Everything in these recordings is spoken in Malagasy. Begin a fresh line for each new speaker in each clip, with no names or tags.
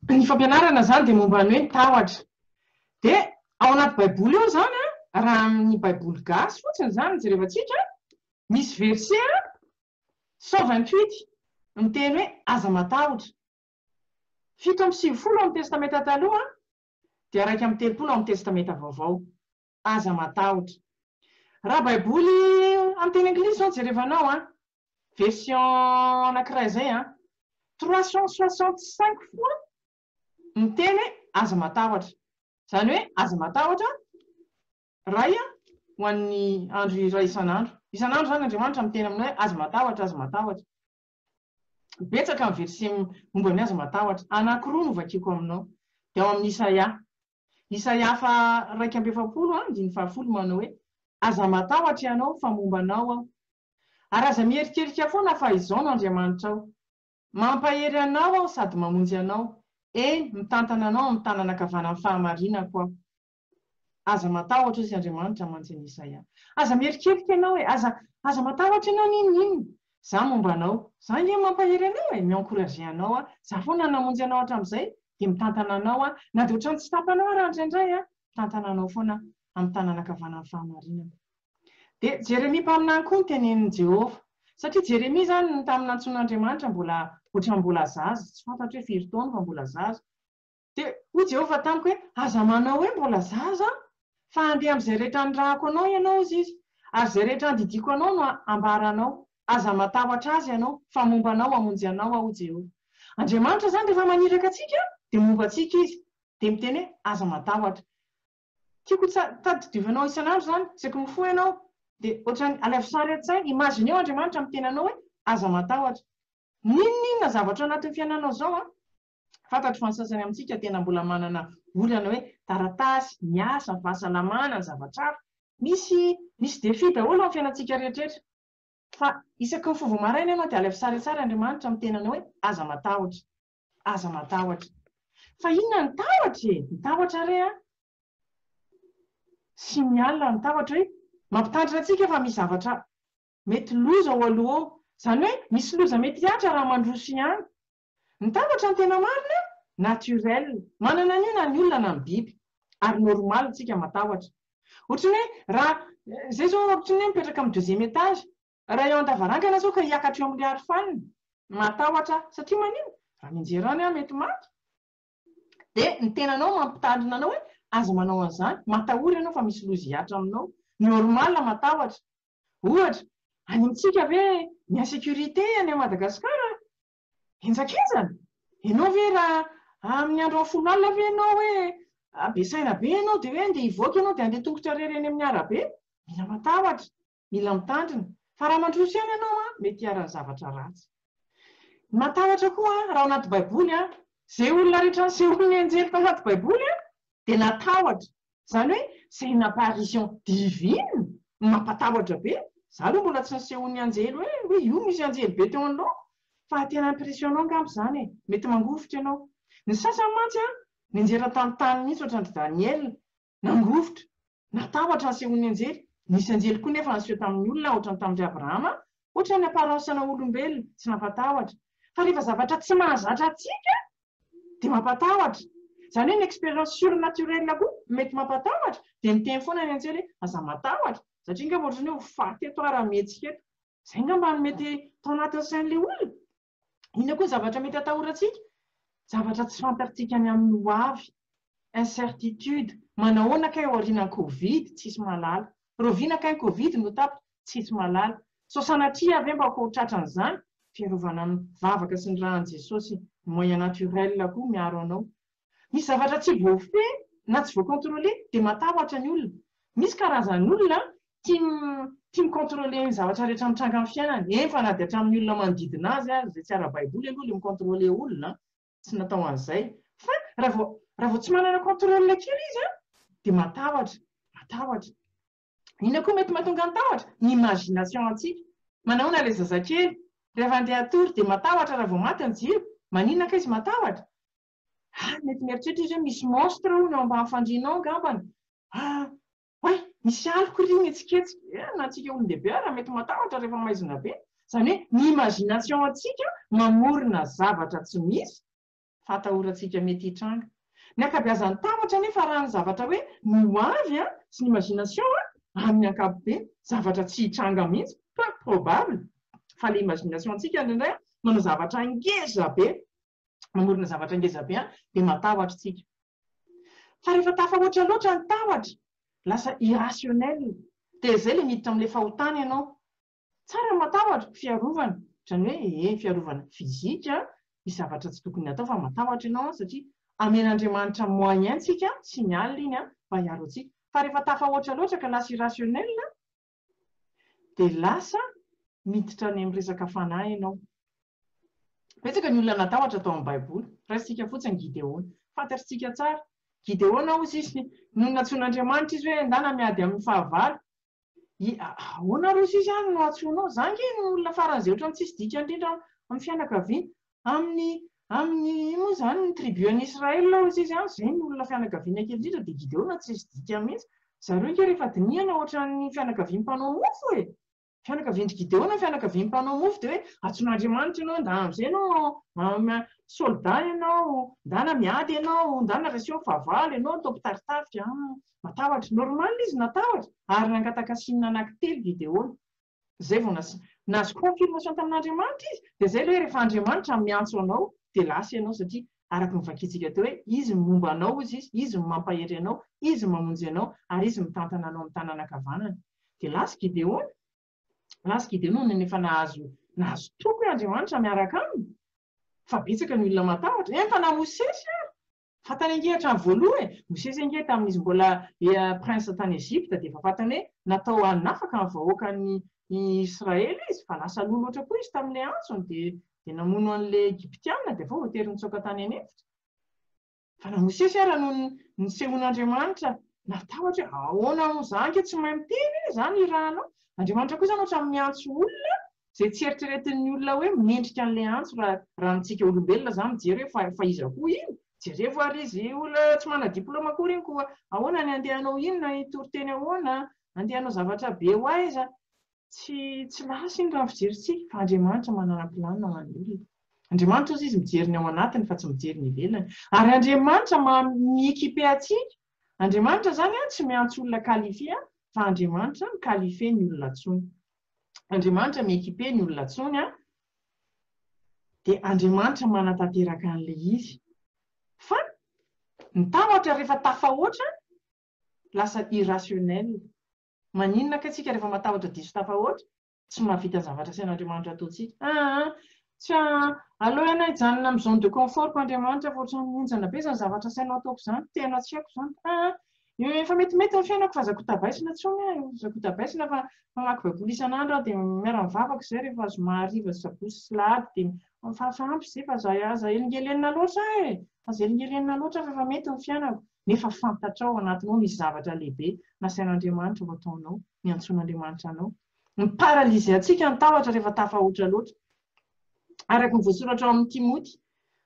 Ny fampianarana izany dia momba ny hoe ny tahotra. Dia ao anaty baiboly ao izany an, raha amin'ny baiboly gasy fotsiny izany no jerevantsika an, misy verset an, cent vingt huit miteny hoe aza matahotra. Fito amby sivifolo ao amin'ny testamenta taloha dia iraika amby telopolo ao amin'ny testamenta vaovao. Aza matahotra. Raha baiboly amin'ny teny anglisy izao no jerevanao an, version anankiray izay an, trois cent soixante cinq fois miteny hoe aza matahotra. Izany hoe aza matahotra iray ho an'ny andro iray isan'andro. Isan'andro izany Andriamanitra miteny aminao hoe aza matahotra, aza matahotra. Betsaka ny verset momba ny azy matahotra. Anankiroa no vakiko aminao. Dia ao amin'ny Isaia. Isaia faha iraika amby efapolo andininy faha folo manao hoe, Aza matahotra ianao, fa momba anao aho. Ary aza miherikerika foana fa Izaho no Andriamanitrao. Mampahery anao aho sady mamonjy anao, eny, mitantana anao amin'ny tanana ankavanan'ny fahamarinako aho. Aza matahotra sy Andriamanitra mantsy an'i Isaia. Aza mierikerika ianao hoe, aza, aza matahotra ianao n'inona inona. Za momba anao. Za ange mampahery anao e, mi-encourager anao aho. Za foana namonjy anao hatramin'izay, dia mitantana anao aho. Na dia ohatran'ny tsy tapana aho ary indraindray an, mitantana anao foana aho, amin'ny tanana ankavanan'ny fahamarinana. Dia Jeremia mpaminany koa no tenenin'i Jehovah. Satria Jeremia izany, tamin'ny nantsoin'Andriamanitra, mbola, ohatran'ny mbola zaza, tsy fantatro hoe firy taona, fa mbola zaza. Dia hoy Jehovah tamiko hoe, Aza manao hoe, Mbola zaza aho, fa andeha amin'izay rehetra anirahako anao ianao, hozy izy, ary izay rehetra andidiako anao no hambaranao. Aza matahotra azy ianao, fa momba anao hamonjy anao aho, hoy Jehovah. Andriamanitra izany rehefa maniraka antsika, dia momba antsika izy. Dia miteny hoe, Aza matahotra. Tiako tadidiovanao isan'andro izany, saika mifoha ianao, dia hoatran'ny alaivo sary an-tsaina. Imagineo Andriamanitra miteny anao hoe, Aza matahotra. N'inon'inona zavatra ao anatin'ny fiainanao izao, Fantatro fa ny sasany amintsika tena mbola manana olana hoe taratasy, ny asa, ny fahasalamana, ny zavatra hafa. Misy misy défi daholo amin'ny fiainantsika rehetraretra. Fa isaky ny fovo maraina ianao dia alaivo tsara tsara Andriamanitra amin'ny tenanao hoe aza matahotra. Aza matahotra. Fa inona ny tahotra e? Ny tahotra re an! Signal ny tahotra hoe mampitandrina antsika fa misy zavatra mety loza ao aloha ao. Izany hoe misy loza mety hihatra raha mandroso ihany. Mitambatra ny tena marina, naturel. Manana an'io na ny olona na ny biby. Ary normal tsika matahotra. Ohatry ny hoe raha zay zao ohatry ny hoe mipetraka amin'ny deuxième étage. Raha eo an-davarangana zao ka hiakatra eo amin'ilay arofanina. Matahotra satria manino? Raha mianjera any aho mety maty. Dia ny tenanao mampitandrina anao hoe aza manao an'izany, matahora ianao fa misy loza hihatra aminao. Normal matahotra. Ohatra, any amintsika ve ny insécurité any Madagascar Henjakenjana? Ianao ve raha amin'ny andro amin'ny folo alina ve ianao hoe be saina be ianao dia hoe andeha hivoaka ianao dia andeha tongotra irery eny amin'ny arabe? Mila matahotra, mila mitandrina. Fa raha mandroso ihany ianao an, mety hiharan'ny zavatra ratsy. Matahotra koa an, raha ao anaty Baiboly an, izay olona rehetra nisehoan'ny anjely tao anaty Baiboly an, dia natahotra. Zany hoe c'est une apparition divine? Mampatahotra be, za aloha mbola tsy nisehoan'ny anjely hoe hoe io misy anjely be teo anoloako fa tena impressionnant angamba zany e! Mety mangovitra ianao. Ny sasany mantsy an, nianjera tanontany mihitsy ohatran'dry Daniel, nangovitra, natahotra ny sehoan'ny anjely, nisy anjely koa nefa niseho tamin'ny olona ohatran'ny tamin'dry Abrahama, ohatran'ny apparence-na olombelona, tsy nampatahotra. Fa rehefa zavatra tsy mahazatra antsika an! dia mampatahotra, izany hoe ny expérience surnaturelle koa mety mampatahotra, dia miteny foana ny antsely hoe aza matahotra, satria ngamba ohatran'ny hoe ho faty eto aho raha mihetsika eto. Izay ngamba no mety tao anatin'ny sain'ilay olona. Inona koa ny zavatra mety hatahorantsika? Zavatra tsy fantatrtsika ny amin'ny ho avy, incertitude, manahoana kay aorianan'ny covid, tsisy mahalala. Rahoviana kay ny covid no tapitra? tsisy malala. Sao sanatria ve mba ko ho tratran'izany? Fiarovana amin'ny vavaka sy ny ran'i Jesosy, ny moyen naturel koa miaro anao. Misy zavatra tsy voafehy na tsy voacontroler dia matahotra ny olona. Misy karazan'olona tia tia micontroler ny zavatra rehetra mitranga amin'ny fiainany, eny fa na dia hatramin'ny olona manodidina azy aza, izay tsy ara-baiboly aloha ilay micontroler olona an, tsy natao an'izay, fa raha vao raha vao tsy manana contrôle kely izy an dia matahotra, matahotra. Inona koa mety mahatonga ny tahotra? Ny imagination antsika. Manahoana ilay zazakely? Rehefa handeha hatory dia matahotra raha vao maty ny jiro? Maninona kay izy matahotra? Ah, mety mieritreritra izy hoe misy monstre hono eo ambany fandriana ao angambany. Ah, oay, misy aloky ry mihetsiketsika. Eh, na antsika olon-dehibe ara mety matahotra rehefa maizina be. Izany hoe ny imagination antsika mamorona zavatra tsy misy. fahatahorantsika mety hitranga. Ny ankabeazan'ny tahotra anefa arahan' ny zavatra hoe ny ho avy an, sy ny imagination an, amin' ny ankapobeny, zavatra tsy hitranga mihitsy, peu probable, fa ilay imagination ntsika indraindray an, manao zavatra ngeza be, mamorona zavatra ngeza be an, dia matahotra isika. Fa rehefa tafahoatra loatra ny tahotra, lasa irrationnel, dia izay ilay miditra amin'ilay fahotana ianao. Tsara ny matahotra, fiarovana, izany hoe ee fiarovana physique an, misy zavatra tsy tokony hatao fa matahotra ianao an, satria amen'Andriamanitra moyen antsika, signal iny an, mba hiaro antsika. Fa rehefa tafahoatra loatra ka lasa irrationnel an, dia lasa miditra any amin'ny resaka fanahy ianao. Betsaka ny olona natahotra tao amin'ny baiboly, raisintsika fotsiny Gideona, fantatritsika tsara. Gideona hozy izy, nony nantsoin'Andriamanitra izy hoe endana miady amin'ny fahavalo, Ahoana ary hoy izany no antsoinao izaho ange no olona faran'izay ohatran'ny tsisy dikany indrindra ao amin'ny fianakaviana? Amin'ny amin'ny ino moa izany ny tribu an'i Israël hoy izy an, izay no olona fianakaviana kely indrindra dia Gideona tsisy dikany mihitsy. Zareo ange rehefa dinihana ohatran'ny fianakavian'ny mpanao mofo e! Fianakavian-dry Gideona ny fianakavian'ny mpanao mofo dia hoe antsoin'Andriamanitra ianao ndà amin'izay ianao soldat ianao, ndana miady ianao, ndana reseo ny fahavalo, ianao atao mpitari-tafika, an! Natahotra. Normal izy natahotra ary nangataka siny anaky telo video-ny. Zay vao nas nahazo confirmation tamin'Andriamanitra izy dia zay ilay hoe rehefa Andriamanitra miantso anao dia lasa ianao satria araky ny vakintsika teo hoe izy ny momba anao ozy izy, izy ny mampahery anao, izy mamonjy anao ary izy mitantana anao amin'ny tanana ankavanany. Dia lasa Gideona. Lasa Gideona nony efa nahazo nahazo toky hoe Andriamanitra miaraka aminy. Fa betsaka ny olona matahotra. Entana Mosesy ary. Fantany ange hatramin'ny voaloha e! Mosesy ange tamin'izy mbola prince tany Egypta dia efa fantany hoe natao hanafaka ny vahoakan'i Israely izy fa lasa loha loatra koa izy tamin'ilay antsony dia dia namono an'ilay Egyptiana dia avy eo voatery nitsoaka tany an'efitra. Fa na Mosesy ara no nisehoan'Andriamanitra natahotra hoe ahoana moa izany kay tsy mahay miteny e! izany irahanao. Andriamanitra koa izany ohatran'ny miantso olona Izay tsy eritreretin'ny olona hoe mendrika an'ilay antso raha raha antsika olombelona zany mijery hoe fa fa iza koa iny? Jerevo ary izy olona tsy manana diploma akory iny koa ahoana ny andeha hanao inona hitory teny ahoana? Andeha hanao zavatra be ho aiza? Tsy tsy lasa iny raha ny fijerintsika fa Andriamanitra manana planina ho an'ny olona. Andriamanitra ozy izy mijery ny ao anatiny fa tsy mijery ny ivelany. Ary Andriamanitra maha mi-equiper antsika. Andriamanitra zany an tsy miantso olona qualifier fa Andriamanitra mi-qualifier ny olona antsoiny. Andriamanitra mi-equiper ny olona tsony an, dia Andriamanitra manatanteraka an'ilay izy. Fa ny tahotra rehefa tafahoatra, lasa irrationnel. Maninona kay tsika rehefa matahotra diso tafahoatra? Tsy mahavita ny zavatra asain'Andriamanitra ataontsika. Aa, tsia, aleo ianao hijanona amin'ny zone de confort-ko Andriamanitra fa ohatran'ny henjana be izany zavatra asainao ataoko izany, tena tsy haiko izany. Aa, Efa metimety ny fiainako fa azako tabaisina intsony an! Azako tabaisina fa mamaky baiboly isan'andro aho dia miara mivavaka izay rehefa zoma hariva sy sabotsy sy lahady dia mifafa ampy izay fa aza aza elingelenina loatra aho e! Aza elingelenina loatra aho fa efa mety ny fiainako nefa fantatrao ao anatinao misy zavatra lehibe nasain'Andriamanitra ho ataonao, niantsoan'Andriamanitra anao. Miparalyser antsika ny tahotra rehefa tafahoatra loatra. Araka ny voasoratra ao amin'ny Timoty,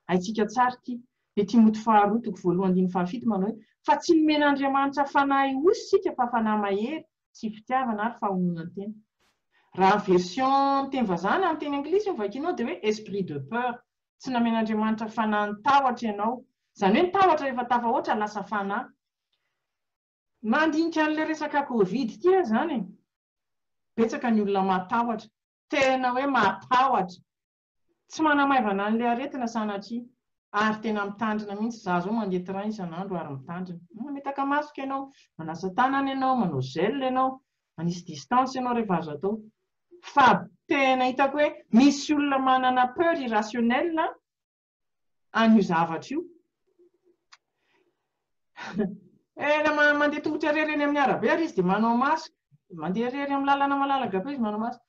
haintsika tsara ity, Dia Timoty faharoa toko voalohany andininy fahafito manao hoe, Fa tsy nomen'Andriamanitra fanahy osy isika fa fanahy mahery sy fitiavana ary fahononan-tena. Raha ny version ny teny vazaha na ny teny anglisy no vakianao dia hoe esprit de peur, tsy namen'Andriamanitra fanahin'ny tahotra ianao. Izany hoe ny tahotra rehefa tafahoatra lasa fanahy. Mandinika an'ilay resaka covid ity aho izany e, betsaka ny olona matahotra, tena hoe matahotra, Tsy manamaivana an'ilay aretina sanatria. Ary tena mitandrina mihitsy. Izaho izao mandeha train isan'andro ary mitandrina. Mametaka masque ianao, manasa tanana ianao, manao gel ianao, manisy distance ianao rehefa azo atao. Fa tena hitako hoe misy olona manana peur irrationnelle an'io zavatra io. Tena mandeha tongotra irery eny amin'ny arabe ary izy dia manao masque. Mandeha irery amin'ny lalana malalaka be izy manao masque.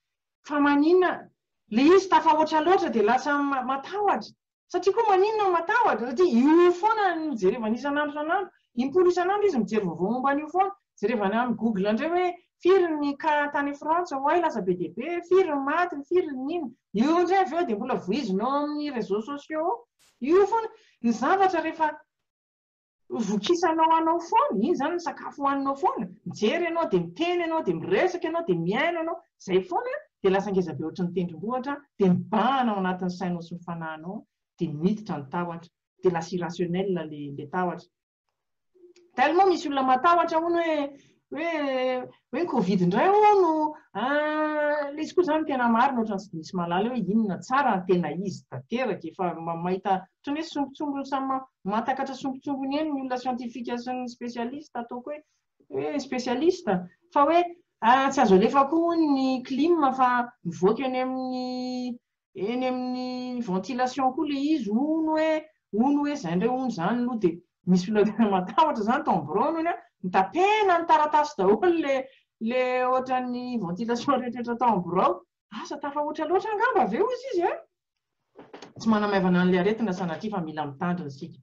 Fa maninona le izy tafahoatra loatra dia lasa matahotra? Satria koa maninona matahotra? Satria io foana no jerevany isan'andro isan'andro, impolo isan'andro izy mijery vaovao momba an'io foana, jerevany amin'ny google indray hoe firy ny cas tany frantsa oay lasa be dia be, firy ny maty, firy ny inona, io indray avy eo dia mbola vohizina ao amin'ny réseaux sociaux ao, io foana, ny zavatra rehefa. Ho vokisanao anao foana, iny izany ny sakafo hohaninao foana, mijery ianao dia miteny ianao dia miresaka ianao dia mihaino ianao, izay foana dia lasa ngeza be ohatry ny tendrombohitra dia mibahana ao anatin'ny sainao sy ny fanahinao dia miditra ny tahotra dia lasa irrationnel le le tahotra. Tellement misy olona matahotra hono hoe hoe hoe ny covid indray hono an, ilay izy koa izany tena marina ohatran'ny tsy misy mahalala hoe inona tsara ary tena izy tanteraka e, fa mahita ohatran'ny hoe sombintsombiny samy mahatakatra sombintsombiny eny ny olona siantifika sy ny spesialista ataoko hoe hoe spesialista fa hoe tsy azo alefa koa hono ny clim fa mivoaka eny amin'ny eny amin'ny ventilation koa ilay izy, hono hoe, hono hoe izay indray hono izany aloha dia misy olona tena matahotra izany tao amin'ny biraony hono hoe notapena ny taratasy daholo ilay ilay ohatran'ny ventilation rehetrarehetra tao amin'ny birao, asa tafahoatra loatra angamba ve hozy izy e? Tsy manamaivana an'ilay aretina sanatria fa mila mitandrina isika.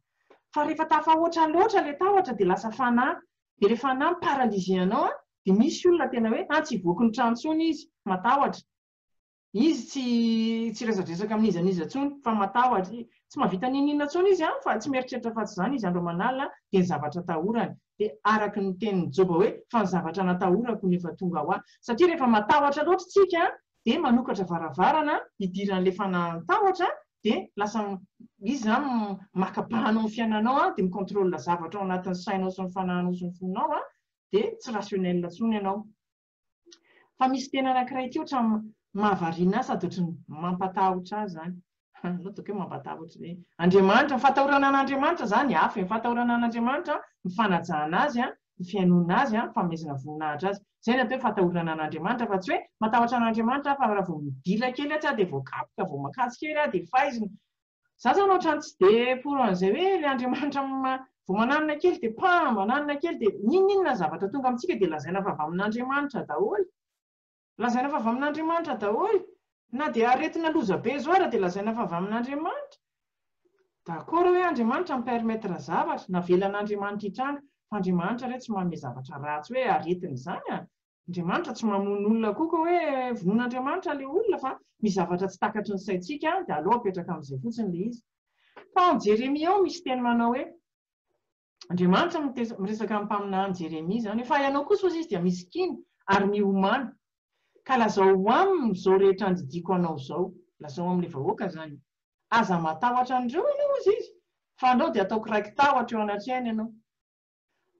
Fa rehefa tafahoatra loatra ilay tahotra dia lasa fanahy, dia ilay fanahy mi-paralyser anao dia misy olona tena hoe an-tsy hivoaky ny trano intsony izy, matahotra. Izy tsy tsy resadresaka amin'iza n'iza intsony fa matahotra, tsy mahavita n'inon'inona intsony izy an, fa tsy mieritreritra afa-tsy izany izy andro aman'alina dia ny zavatra atahorany, dia araka ny tenin'i Joba hoe, fa ny zavatra natahorako no efa tonga ho ahy. Satria rehefa matahotra loatra isika dia manokatra varavarana hidiran'ilay fanahan-tahotra dia lasa izy izany maka bahana ao amin'ny fiainanao dia mi-contrôle zavatra ao anatin'ny sainao sy ny fanahinao sy ny fonao dia tsy rationnel intsony ianao. Fa misy teny anankiray ity ohatra mahavariana ahy sady ohatry ny mampatahotra ahy izany. Anao dia hoe mampatahotra ve? Andriamanitra, ny fahatahorana an'Andriamanitra izany hafa e, ny fahatahorana an'Andriamanitra, ny fanajana Azy, ny fihainoana Azy, ny fanomezana voninahitra Azy. Izay no atao hoe fahatahorana an'Andriamanitra fa tsy hoe matahotra an'Andriamanitra aho fa raha vao midila kely atsy aho dia voakapoka, vao makatso kely aho dia faizina. Za zany otrany tsy de pour an'izay hoe le Andriamanitra vao mananina kely de pam, mananina kely de n'inon'inona zavatra tonga amintsika de lazaina fa avy amin'Andriamanitra daholo, lazaina fa avy amin'Andriamanitra daholo, na de aretina loza be zao ary de lazaina fa avy amin'Andriamanitra, d'accord hoe Andriamanitra mi permettre zavatra, navelan'Andriamanitra hitranga, fa Andriamanitra re tsy manome zavatra ratsy hoe aretina izany a, Andriamanitra tsy mamono olona akoho ka hoe vonoin'Andriamanitra ilay olona fa misy zavatra tsy takatry ny saintsika dia aleo apetraka amin'izay fotsiny ilay izy. Fa ao Jeremia ao misy teny manao hoe Andriamanitra no miresaka amin'ny mpaminany Jeremia izany hoe fa ianao kosa hozy izy dia misikina ary miomana ka lazao aminy izao rehetra andidiako anao izao, lazao amin'ilay vahoaka izany e. Aza matahotra an'ireo ianao hozy izy fa andao dia ataoko raiki-tahotra eo anatrehany ianao.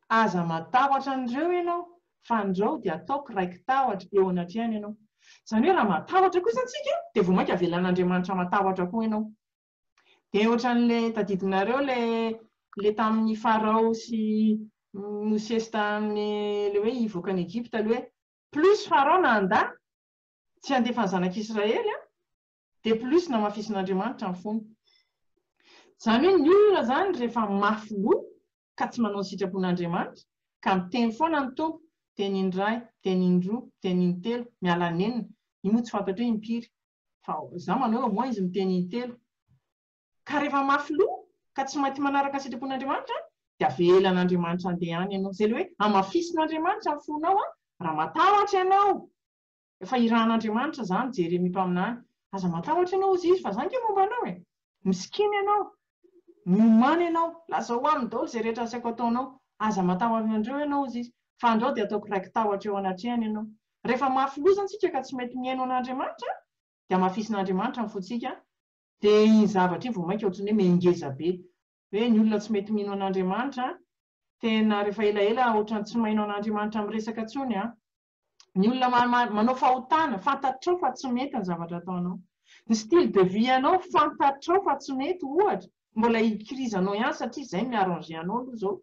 Aza matahotra an'ireo ianao, fa andrao dia ataoko raiki-tahotra eo anatrehany ianao. Izany hoe raha matahotra kosa antsika dia vao mainka avelan'Andriamanitra matahotra koa ianao. Dia ohatran'ilay tadidinareo ilay ilay tamin'i Farao sy Mosesy tamin'ny ilay hoe hivoaka an'i Egypta ilay hoe plus Farao nanda tsy handefa ny zanak'Israely an, dia plus namafisin'Andriamanitra ny fony. Izany hoe ny olona izany rehefa mafy loha ka tsy manao ny sitrapon'Andriamanitra, ka miteny foana ny Tompo, teny indray, teny indroa, teny intelo, miala an'enina, io moa tsy fantatro hoe impiry, fa za manao hoe au moins izy miteny intelo, ka rehefa mafy loha, ka tsy maity manaraka ny sitrapon'Andriamanitra an, dia avelan'Andriamanitra andeha any ianao, zay le hoe hamafisin'Andriamanitra ny fonao an, raha matahotra ianao, Efa irahan'Andriamanitra zany Jeremia mpaminany, aza matahotra ianao hozy izy fa za nge momba anao e! Misikina ianao, miomana ianao, lazao aminy daholo izay rehetra asaiko ataonao, aza matahotra an'ireo ianao hozy izy, fa andrao dia ataoko raiki-tahotra eo anatrehany ianao. Rehefa mafy loza ntsika ka tsy mety mihaino an'Andriamanitra dia hamafisin'Andriamanitra ny fontsika, dia iny zavatra iny vao mainka ohatran'ny hoe mengeza be, hoe ny olona tsy mety mino an'Andriamanitra tena rehefa elaela ohatran'ny tsy maino an'Andriamanitra miresaka tsony an! Ny olona manao fahotana, fantatrao fa tsy mety ny zavatra ataonao. Ny style de vie anao, fantatrao fa tsy mety ohatra, mbola ikirizanao ihany satria izay no mi-arranger anao aloha izao.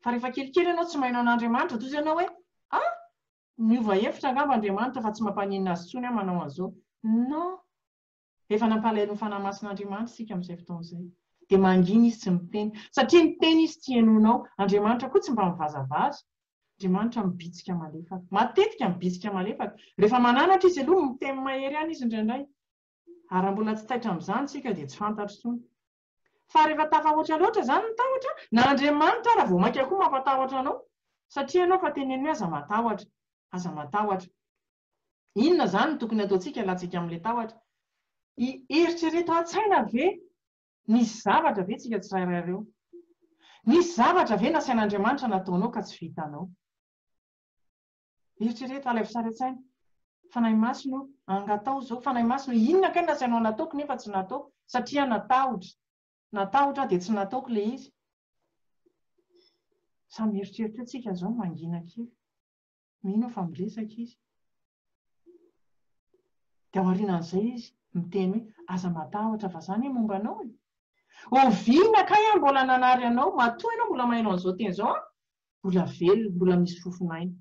Fa rehefa kelikely ianao tsy maino an'Andriamanitra, toa izao ianao hoe, ah! miova hevitra angamba Andriamanitra fa tsy mampaninona azy intsony aho manao an'izao. Non! dia efa nampalahelo ny Fanahy Masin'Andriamanitra isika amin'izay fotoana izay. Dia mangina izy tsy miteny. Satria miteny izy tsy henoinao. Andriamanitra koa tsy mba mivazavaza. Andriamanitra mibitsika malefaka. Matetika mibitsika malefaka. Rehefa mananatra izy aloha, miteny mahery ihany izy indraindray. Ary raha mbola tsy taitra amin'izany isika dia tsy fantatro intsony. Fa rehefa tafahoatra loatra izany ny tahotra, na Andriamanitra ara vao mainka koa mampatahotra anao. Satria ianao efa teneniny hoe aza matahotra. Aza matahotra. Inona izany no tokony hataontsika alantsika amin'ilay tahotra? Hieritrereto an-tsaina ve nisy zavatra ve tsika tsirairay ireo? Nisy zavatra ve nasain'Andriamanitra nataonao ka tsy vitanao? Eritrereto, alaivo sary an-tsaina. Fanahy Masina o, angataho izao. Fanahy Masina o, inona kay no nasainao nataoko nefa tsy nataoko? Satria aho natahotra. Natahotra aho dia tsy nataoko ilay izy. Samy mieritreritra eo tsika izao, mangina kely. Mino aho fa miresaka izy. Dia aorianan'izay izy miteny hoe, aza matahotra fa izaho anie momba anao e! Oviana kay aho mbola nanary anao, matoa ianao mbola maheno an'izao teny izao an! Mbola velona, mbola misy fofon'aina.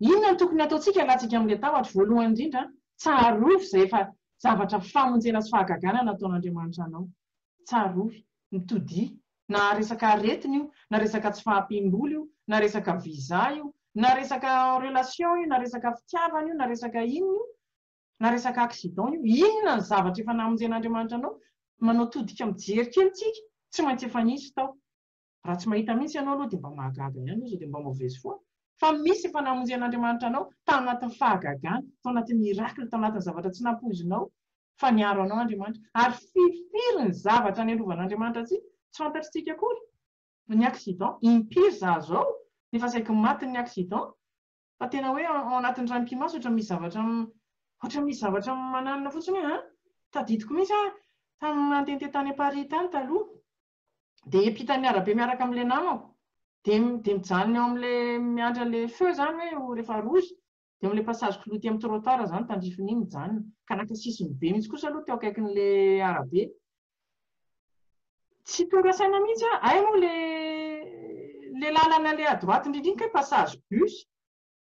Inona no tokony hataontsika hialantsika amin'ilay tahotra? Voalohany indrindra an, tsarovy izay efa zavatra famonjena sy fahagagana nataon'Andriamanitra anao. tsarovy, ny todia, na resaka aretina io, na resaka tsy fahampiam-bola io, na resaka visa io, na resaka relation io, na resaka fitiavana io, na resaka inona io, na resaka accident io, inona ny zavatra efa namonjen'Andriamanitra anao, manao todika mijery kely tsika, tsy maintsy efa nisy tao. Raha tsy mahita mihitsy ianao aloha dia mba mahagaga ihany aza dia mba maovezy foana fa misy efa namonjy an'Andriamanitra anao tao anatin'ny fahagagana, tao anatin'ny miracle, tao anatin'ny zavatra tsy nampoizinao fa niaro anao Andriamanitra. Ary firifiry ny zavatra niarovan'Andriamanitra antsika tsy fantatritsika akory. Ny accident, impiry izaho izao no efa saiky matin'ny accident fa tena hoe ao anatin'ny ray mpimaso ohatra misy zavatra ohatra misy zavatra mananona fotsiny hoe an! tadidiko mihitsy aho tamin'ny nandehandeha tany Paris tany taloha, dia hiampitan'ny arabe miaraka amin'ilay namako, dia dia mijanona eo amin'ilay miandry an'ilay feu izany hoe ho rehefa rouge, dia eo amin'ilay passage clouty amin'ny trottoir izany tandrifiny iny mijanona, ka naka sisiny be mihitsy kosa aloha teo akaikin'ilay arabe. Tsy tonga saina mihitsy aho, hay moa ilay ilay lalana ilay à droite indrindra iny kay passage bus,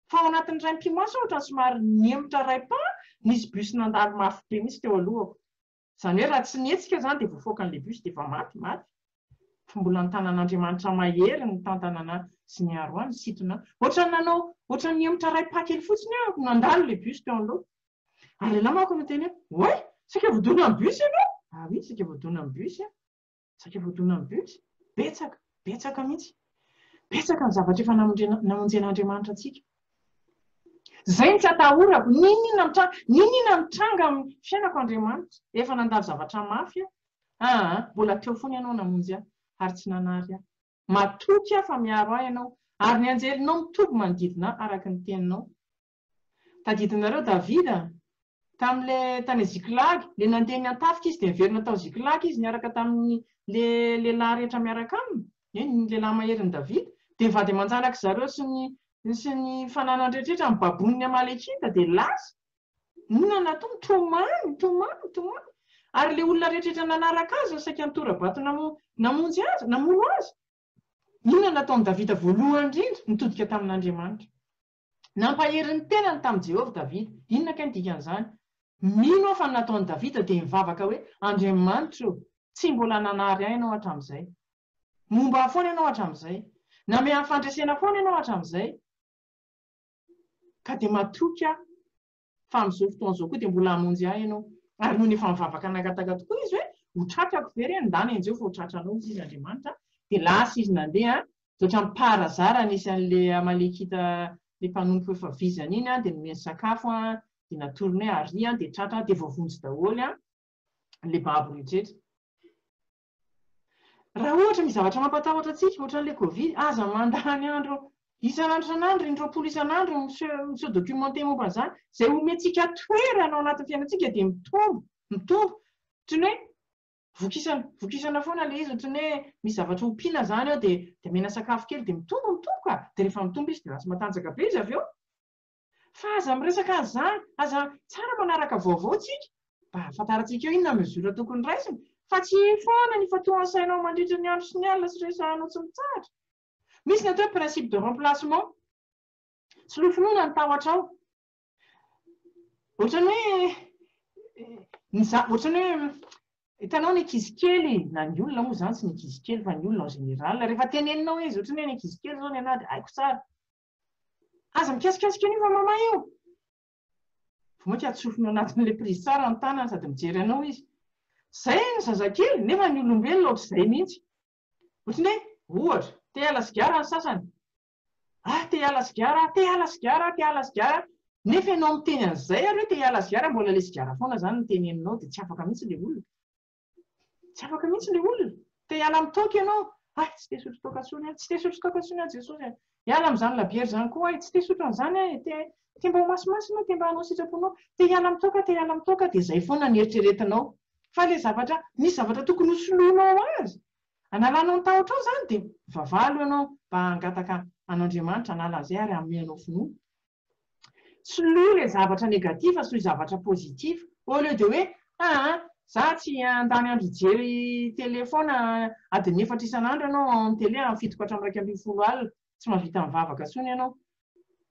fa ao anatin'ny raim-pimaso aho ohatran'ny somary nihemotra iray pas, nisy bus nandalo mafy be mihitsy teo alohako. Izany hoe raha tsy nihetsika izany dia voafaoka an'ilay bus dia efa maty, maty. Fa mbola ny tanan'Andriamanitra mahery ny tantanana sy ny aroa ny sitona. Ohatran'ny nanao, ohatran'ny nihemotra iray pas kely fotsiny aho, nandalo ilay bus teo anoloako. Ary lehilahy manko no niteny hoe, Oay! Saika voadona amin'ny bus ianao! Ah oui, saika voadona amin'ny bus aho. Saika voadona ny bus? Betsaka, betsaka mihitsy. Betsaka ny zavatra efa namonjen'Andriamanitra antsika. Izay no tsy atahorako, n'inon'inona mitranga, n'inon'inona mitranga amin'ny fiainako Andriamanitra. Efa nandalo zavatra mafy aho, aa, mbola teo foana Ianao namonjy ahy, ary tsy nanary ahy. Matoky aho fa miaro ahy Ianao, ary ny anjelinao mitoby manodidina ahy araka ny Teninao. Tadidinareo Davida? Tamin'ilay tany Ziklagy, ilay nandeha niantafika izy dia niverina tao Ziklagy izy niaraka tamin'ny le lehilahy rehetra miaraka aminy, ie, ny lehilahy maherin'i Davida, dia vady aman-janak'i zareo sy ny sy ny fananany rehetra ny baboin'ny Amalekita dia lasa. Inona no nataony? Tomany, tomany, tomany. Ary ilay olona rehetrarehetra nanaraka azy saika nitora-bato namo namonjy azy, namono azy. Inona no nataon'i Davida voalohany indrindra? Nitodika tamin'Andriamanitra. Nampahery ny tenany tamin'i Jehovah Davida. Inona kay ny dikan'izany? Mino aho fa ny nataon'i Davida dia nivavaka hoe, Andriamanitro ô, tsy mbola nanary ahy ianao hatramin'izay. Momba ahy foana ianao hatramin'izay. Namehy ahy fandresena foana ianao hatramin'izay, ka dia matoky aho. fa amin'izao fotoana izao koa dia mbola hamonjy ahy ianao. Ary nony efa mivavaka nangataka tokoa izy hoe, Ho tratrako ve re ny ndany? Enjeho fa ho tratranao, hoy izy Andriamanitra. Dia lasa izy nandeha, dia ohatran'ny parazara nisy an'ilay Amalekita, ilay mpanompo efa vizana iny, dia nomeny sakafo, dia natorony hoe, Aria, dia tratra, dia voavonjy daholo ilay babo rehetra. Raha ohatra misy zavatra mampatahotra antsika, ohatran'ilay covid, aza mandany andro isan'andro isan'andro, in-droapolo isan'andro ny mi-se documenter momba an'izany. Izay omentsika toerana ao anatin'ny fiainantsika dia mitombo, mitombo. Ohatran'ny hoe vokisana, vokisana foana ilay izy, ohatran'ny hoe misy zavatra ompiana izany ao dia omena sakafo kely dia mitombo, mitombo ka! Dia rehefa mitombo izy dia lasa matanjaka be izy avy eo. Fa aza miresaka an'izany, aza Tsara manaraka vaovao tsika mba hahafantarantsika eo inona mesure tokony raisina fa tsy io foana ny ifantohan'ny sainao mandritra ny andro sy ny alina sy resahanao tsy mitsahatra. Misy ny atao hoe principe de remplacement. Soloy finoana ny tahotrao. Ohatran'ny hoe ny za, ohatran'ny hoe hitanao ny ankizy kely na ny olona moa izany tsy ny ankizy kely fa ny olona en général rehefa teneninao izy ohatran'ny hoe ny ankizy kely izao ny anah dia haiko tsara Aza mikasikasika an'io va mama io? Vonona hatsofony ao anatin'ilay prise tsara ny tanany sady mijery anao izy. Izay ny zazakely, nefa ny olombelona ohatr'izay mihitsy. Ohatrany hoe, ohatra, te hiala sigara ny sasany. Ah, te hiala sigara aho, te hiala sigara aho, te hiala sigara aho. Nefa ianao miteny an'izay ary hoe te hiala sigara, mbola ilay sigara foana izany no teneninao dia tsy afaka mihitsy ilay olona. Tsy afaka mihitsy ilay olona. Te hiala amin'ny toaka ianao. Hay, tsy te hisotro toaka intsony aho. Tsy te hisotro toaka intsony aho Jesosy a. Hiala amin'izany labiera izany koa aho e. Tsy te hisotro an'izany aho e. Te mba ho masimasina aho, te mba hanao sitraponao. Te hiala amin'ny toaka aho, te hiala amin'ny toaka aho. Dia izay foana no eritreretinao. Fa ilay zavatra, misy zavatra tokony hosoloanao azy, hanalanao ny tahotrao izany dia mivavaha aloha ianao mba hangataka an'Andriamanitra hanala an'izay ary hanome anao finoana. Soloy ilay zavatra negatif sy zavatra positif au lieu de hoe aa za tsy handany andro hijery tele foana adiny efatra isan'andro ianao en tele amin'ny fitoko hatramin'ny iraika ambin'ny folo alina tsy mahavita mivavaka intsony ianao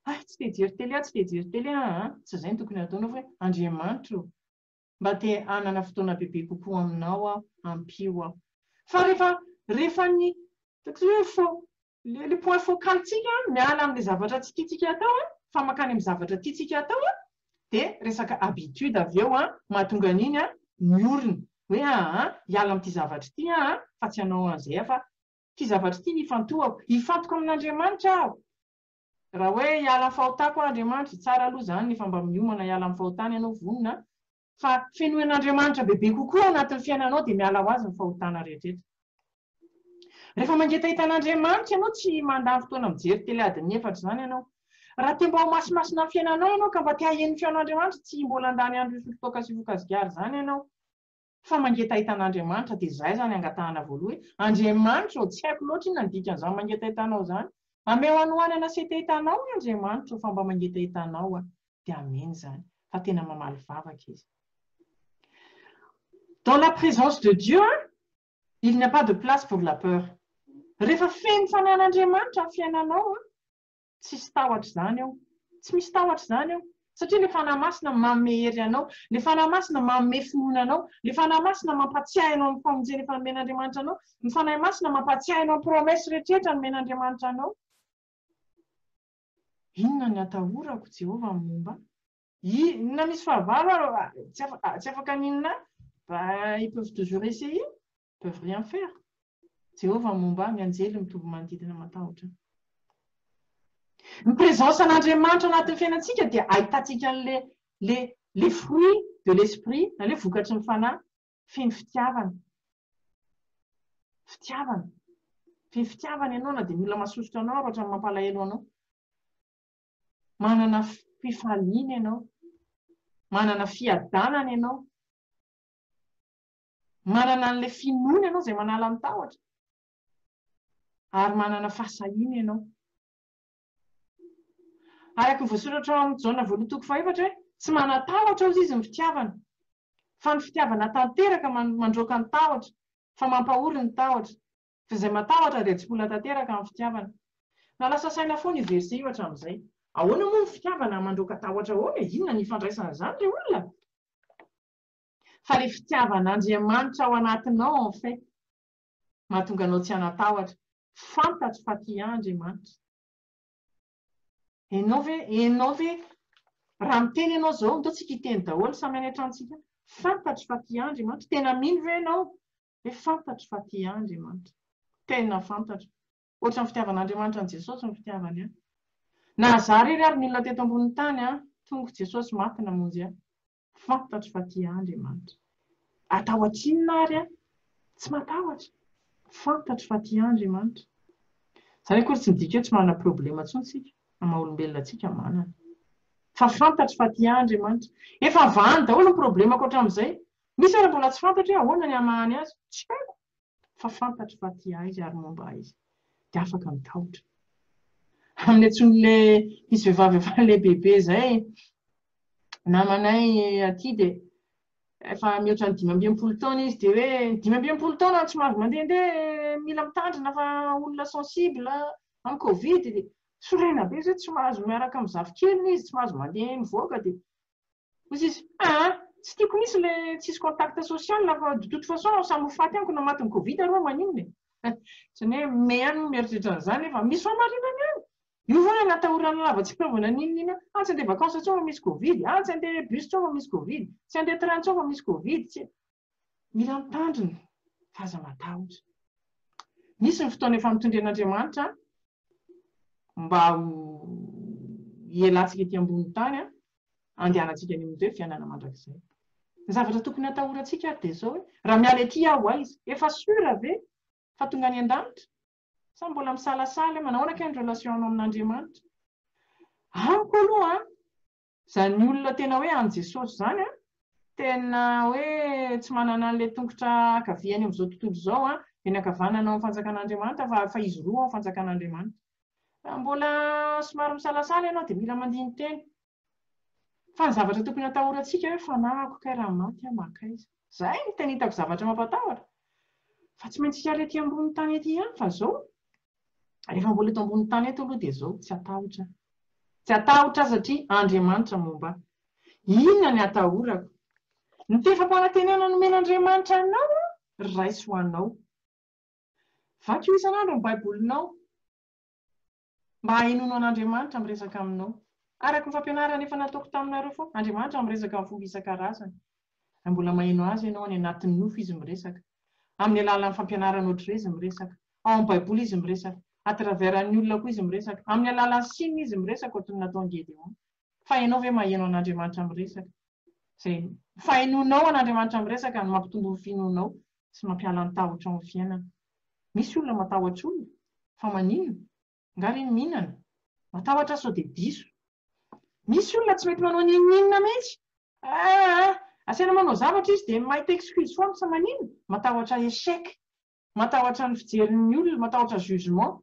hay tsy te hijery tele aho tsy te hijery tele aho aa tsy izay no tokony hataonao fa hoe Andriamanitra o mba te hanana fotoana bebe kokoa aminao aho ampio aho fa rehefa rehefa ny ataoko izay hoe faux Le le point focal tsika miala amle zavatra tsy titsika atao a fa makany am zavatra titsika atao a de resaka habitude avy eo a mahatonga an'iny a miorina hoe aa hiala amty zavatra ity aho a fa tsy hanao anzay aho fa ty zavatra ity no ifantohako hifantoko amin'Andriamanitra aho raha hoe hiala am fahotako aho Andriamanitra tsara aloha zany fa mba miomana hiala am fahotany ianao vonona Fa fenoen'Andriamanitra bebe kokoa ao anatin'ny fiainanao dia miala ho azy ny fahotana rehetra eto. Rehefa mangetaheta an'Andriamanitra ianao tsy mandany fotoana mijery tele adin'ny efatra izany ianao. Raha te mba ho masimasina amin'ny fiainanao ianao ka mba te haheno ny feon'Andriamanitra tsy mbola handany andro hisotro toaka sy hifoka sigara izany ianao fa mangetaheta an'Andriamanitra dia izay izany angatahana voaloha hoe Andriamanitra ô tsy haiko loatra inona ny dikan'izany mangetaheta anao izany ameo hanohanana sy hetaheta anao Andriamanitra ô fa mba mangetaheta anao aho dia amen izany fa tena mamaly vavaka izy dans la présence de Dieu il n'y a pas de place pour la peur rehefa feno fanan'Andriamanitra ny fiainanao an tsisy tahotra izany eo tsy misy tahotra izany eo satria ilay fanahy masina manome hery anao ilay fanahy masina manome finoana anao ilay fanahy masina mampatsiahy anao ny famonjena efa nomen'Andriamanitra anao ny fanahy masina mampatsiahy anao ny promesse rehetra rehetra nomen'Andriamanitra anao Inona ny atahorako, Jehovah, amin'ny momba. Inona misy fahavalo aho, ah, tsy afaka ny inona aho, bah, ils peuvent toujours essayer, ils peuvent rien faire. Jehovah, amin'ny momba ahy, ny anjely mitovy manodidina matahotra ahy. Ny présence an'Andriamanitra anatin'ny fiainantsika dia ahitantsika an'ilay le le fruit de l'esprit na le vokatry ny fanahy Feno fitiavana. Fitiavana. Feno fitiavana ianao na dia ny olona masosotra anao ary ohatran'ny mampalahelo anao. Manana fifaliana ianao. Manana fiadanana ianao. Manana an'ilay finoana ianao izay manala ny tahotra. Ary manana fahasahiana ianao. Araka ny voasoratra ao amin'ny Jaona voalohany toko fahefatra hoe, Tsy manan-tahotra hozy izy ny fitiavana. Fa ny fitiavana tanteraka mandroaka ny tahotra, fa mampahory ny tahotra, fa izay matahotra dia tsipola tanteraka amin'ny fitiavana. Na lasa saina foana io verset io hatramin'izay. Ahoana moa ny fitiavana mandroaka tahotra ahoana e? Inona ny ifandraisany izany ry olona? Fa ilay fitiavan'Andriamanitra ao anatinao en fait mahatonga anao tsy hanan-tahotra, fantatro fa tia ahy Andriamanitra. Enao ve enao ve raha miteny enao zao ndao tsika hiteny daholo samy any an-trano tsika fantatro fa tia ahy Andriamanitra tena mino ve enao hoe fantatro fa tia ahy Andriamanitra tena fantatro ohatran'ny fitiavan'Andriamanitra an'i Jesosy ny fitiavany ahy na za rery ary ny olona teto ambonin'ny tany aho tonga Jesosy maty namonjy ahy Fantatro fa tia ahy Andriamanitra. Atahotra inona ary aho? Tsy matahotra. Fantatro fa tia ahy Andriamanitra. Izany akory tsy midika hoe tsy manana problema intsony isika, amin'ny maha olombelona antsika, manana. Fa fantatro fa tia ahy Andriamanitra. Efa vahany daholo ny problemako hatramin'izay. Misy ary mbola tsy fantatro hoe ahoana ny hamaha ny azy. Tsy haiko. fa fantatro fa tia ahy izy ary momba ahy izy, dia afaka mitahotra. Amin'ny antson'ilay izy vehivavy efa lehibebe izay, namanay aty dia efa mihoatra ny dimy amby enimpolo taona izy, dia hoe dimy amby enimpolo taona tsy mahazo mandehandeha, mila mitandrina fa olona sensible amin'ny covid, dia sorena be izay tsy mahazo miaraka amin'ny zafikeliny izy, tsy mahazo mandeha mivoaka, dia Hozy izy, aa, tsy tiako mihitsy le tsisy contact social fa de toute façon aho samy ho faty amiko na matin'ny covid aho reo maninona e. Otrany hoe me ihany no mieritreritra an'izany nefa misy fahamarinany ihany. Io ve hoe natahoran'ny lava tsy mpiova na n'inona n'inona, ah tsy andeha vacances intsony fa misy covid, ah tsy andeha bus intsony fa misy covid, tsy andeha train intsony fa misy covid, tsy. Mila mitandrina fa aza matahotra. Misy ny fotoana efa notendren'Andriamanitra mba ho hialantsika ety ambonin'ny tany handehanantsika any amin'ny fiainana mandrakizay. Ny zavatra tokony hatahorantsika ary dia izao hoe, raha miala ety aho aiza? Efa sûr ve fa tonga any an-danitra? Sa mbola misalasala hoe manahoana kay ny relation-nao amin'Andriamanitra? Amiko aloha an, Zany olona tena hoe any Jesosy zany an, tena hoe tsy manana an'ilay tongotra ankaviany amin'izao tontolo izao an, eny ankavanana ao amin'ny fanjakan'Andriamanitra fa fa izy roa ao amin'ny fanjakan'Andriamanitra. Raha mbola somary misalasala ianao dia mila mandini-teny. Fa ny zavatra tokony hatahorantsika hoe fanahiko kay raha maty aho mankaiza. Zay no tena hitako zavatra mampatahotra. Fa tsy maintsy hiala ety ambony tany ety ihany fa zao Rehefa mbola eto ambony tany eto aloha dia izao, tsy atahotra aho. Tsy atahotra aho satria Andriamanitra momba ahy. Inona ny atahorako? Ny tefam-panantenana nomen'Andriamanitra anao aho, raiso ho anao. Vakio isan'andro ny Baibolinao mba hahenoanao an'Andriamanitra miresaka aminao. Araka ny fampianarana efa nataoko taminareo foana, Andriamanitra miresaka amin'ny fomba isan-karazany. Raha mbola maheno Azy ianao, any anatin'ny nofo Izy miresaka. Amin'ny alalan'ny fampianarana ohatr'ireo Izy miresaka. Ao amin'ny Baiboly izy miresaka. À travers an'ny olona koa izy miresaka. Amin'ny alalan'ny signe izy miresaka ohatry ny nataon'i Gédéon. Fa ianao ve maheno an'Andriamanitra miresaka? Izay fahenoanao an'Andriamanitra miresaka no mampitombo ny finoanao sy mampiala ny tahotra ao amin'ny fiainana. Misy olona matahotra olona. Fa maninona? Angaha re ny mihinana? Matahotra sao dia diso. Misy olona tsy mety manao n'inon'inona mihitsy. Aah! Asaina manao zavatra izy dia mahita excuse foana. Fa maninona? Matahotra échec. Matahotra ny fijerin ny olona, matahotra jugement.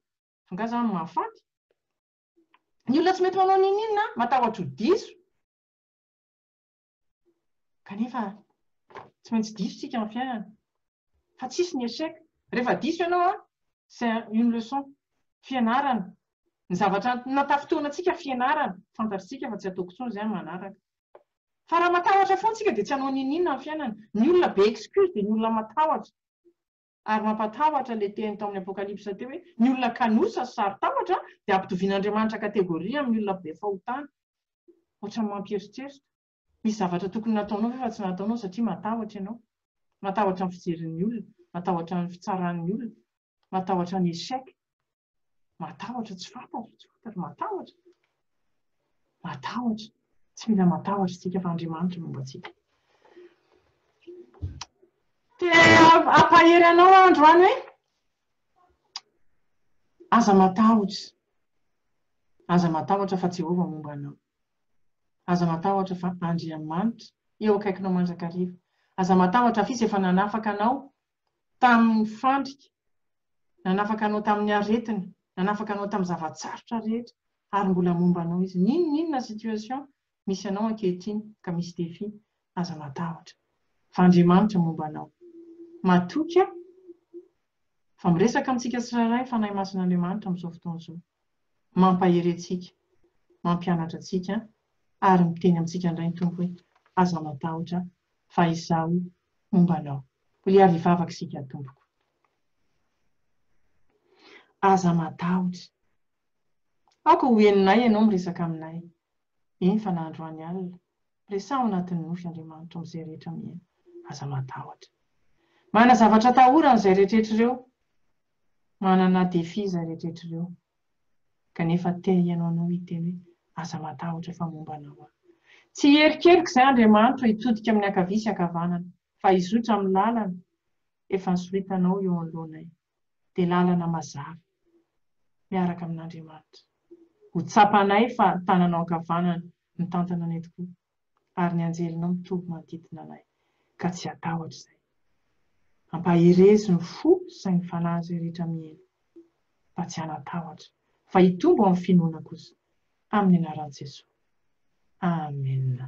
Angaha za no mahafaty? Ny olona tsy mety manao n'inon'inona an, matahotra ho diso. Kanefa tsy maintsy diso tsika am fiainana. Fa tsisy ny echec. Rehefa diso ianao an, c'est une leçon. Fianarana. Ny zavatra natafintohina antsika fianarana. Fantatritsika fa tsy ataoko intsony izay am manaraka. Fa raha matahotra foana tsika dia tsy hanao n'inon'inona am fiainana. Ny olona be excuse dia ny olona matahotra. Ary mampatahotra ilay teny tao amin'ny Apokalypsa teo hoe ny olona kanosa sy saro-tahotra dia hampitovian'Andriamanitra kategoria amin'ny olona be fahotana. Ohatran'ny mampieritreritra. Misy zavatra tokony nataonao ve fa tsy nataonao satria matahotra ianao? Matahotra ny fijerin'ny olona, matahotra ny fitsaran'ny olona, matahotra ny échec. Matahotra tsy fantatra, tsy fantatra, matahotra. Matahotra. Tsy mila matahotra isika fa Andriamanitra momba antsika. Te hampahery anao aho androany hoe aza matahotra. Aza matahotra fa Jehovah momba anao. Aza matahotra fa Andriamanitra eo akaikinao mandrakariva. Aza matahotra fa Izy efa nanafaka anao tamin' ny fandrika, nanafaka anao tamin' ny aretina, nanafaka anao tamin'ny zava-tsarotra rehetra, ary mbola momba anao Izy. N'in n'inona situation misy anao ankehitriny ka misy défi, aza matahotra, fa Andriamanitra momba anao. Matokia fa miresaka amintsika tsirairay ny Fanahy Masin'Andriamanitra amin'izao fotoana izao. Mampahery antsika, mampianatra antsika ary miteny amintsika indray ny Tompo hoe, Aza matahotra fa Izaho momba anao. Hoy àry hivavaka isika, Tompoko, aza matahotra. Aoka ho henonay Ianao miresaka aminay, eny fa na androany alina, Resaho anatin'ny nofy Andriamanitra ao amin'izay rehetra miaina. Aza matahotra. Manana zavatra atahorany izay rehetraretra ireo. Manana défi izay rehetraretra ireo. Kanefa te hihaino anao hiteny hoe, Aza matahotra fa momba anao aho. Tsy hierikerik' izay Andriamanitra hitodika amin'ny ankavia sy ankavanana, fa hizotra amin'ny lalana efa nosoritanao eo anoloanay. dia lalana mazava miaraka amin'Andriamanitra. Ho tsapanay fa ny tananao ankavanana mitantana anay tokoa, ary ny anjelinao mitoby manodidina anay, ka tsy hatahotra izay. Ampaherezo ny fo sy ny fanahy izay rehetra miheno, mba tsy hanatahotra, fa hitombo amin'ny finoana kosa, amin'ny anaran'i Jesoa. Amena.